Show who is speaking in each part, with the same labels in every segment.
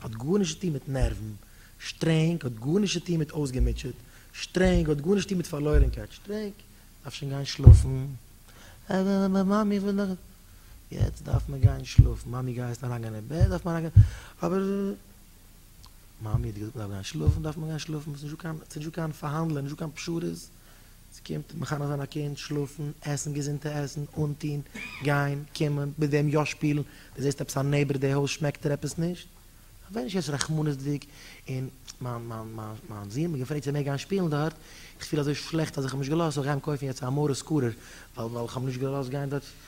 Speaker 1: האט גארנישט צו טון מיט נערוון שטרענג, האט גארנישט צו טון מיט אויסגעמוטשעט שטרענג, האט גארנישט צו טון מיט פארלוירענקייט שטרענג, דארף שוין גיין שלאפן, אבער מאמי איך וויל נאך, יעצט דארף מען גיין שלאפן, מאמי גיי יעצט אריינגיין אין בעט, דארף מען אריינגיין, אבער מאמי האט געזאגט מען דארף גיין שלאפן, דארף מען גיין שלאפן, ס'נישט דא קיין פארהאנדלען, נישט דא קיין פשרות. ס'קומט מחנך זיין א קינד, שלאפן, עסן געזונטע עסן, אנטון, גיין, קומען, מיט וועם יא שפילן, דו זעסט עפעס א נעיבער די הויז שמעקט ער עפעס נישט, ווער נישט יעצט רחמנות'דיג, און מיין מיין מיין מיין זון האט מיר געפרעגט צו ער מעג גיין שפילן דארט, איך פיל אזוי שלעכט אז איך האב נישט געלאזט, זאל איך גיין קויפן יעצט א מרת סקורער, ווייל ווייל איך האב נישט געלאזט גיין דארט.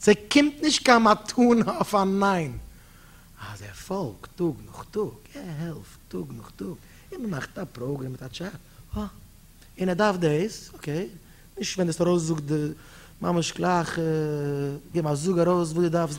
Speaker 1: ס'קומט נישט קיין מתנה אויף א ניין. אז ער פאלגט טאג נאך טאג, ער העלפט טאג נאך טאג, און מ'מאכט א פראגרעם מיט א טשעט, אה, און ער דארף דאס, אקעי, נישט ווענד עס ארויס, זאג ממש גלייך, גיב א זאג ארויס וואס דו דארפסט,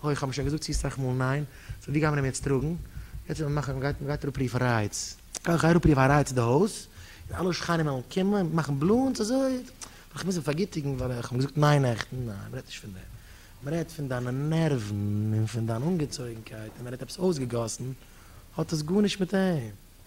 Speaker 1: הוי, כ'האב שוין געזאגט צו סאך מאל ניין, סאו ווי גייען מיר אים יעצט טראגן? יעצט וועט מען מאכן, מ'גייט מ'גייט אראפרופן א רייץ. גיי גיי אראפרוף א רייץ אין די הויז, און אלע שכנים וועלן קומען און מאכן בלאנס אזוי, ווייל כ'מוז אים פארגיטיגן ווייל איך האב געזאגט ניין נעכטן, ניין מ'רעדט נישט פון דעם, מ'רעדט פון דיינע נערוון און פון דיין אנגעצויגנקייט און מ'רעדט עפעס אויסגעגאסן, האט עס גארנישט מיט אים.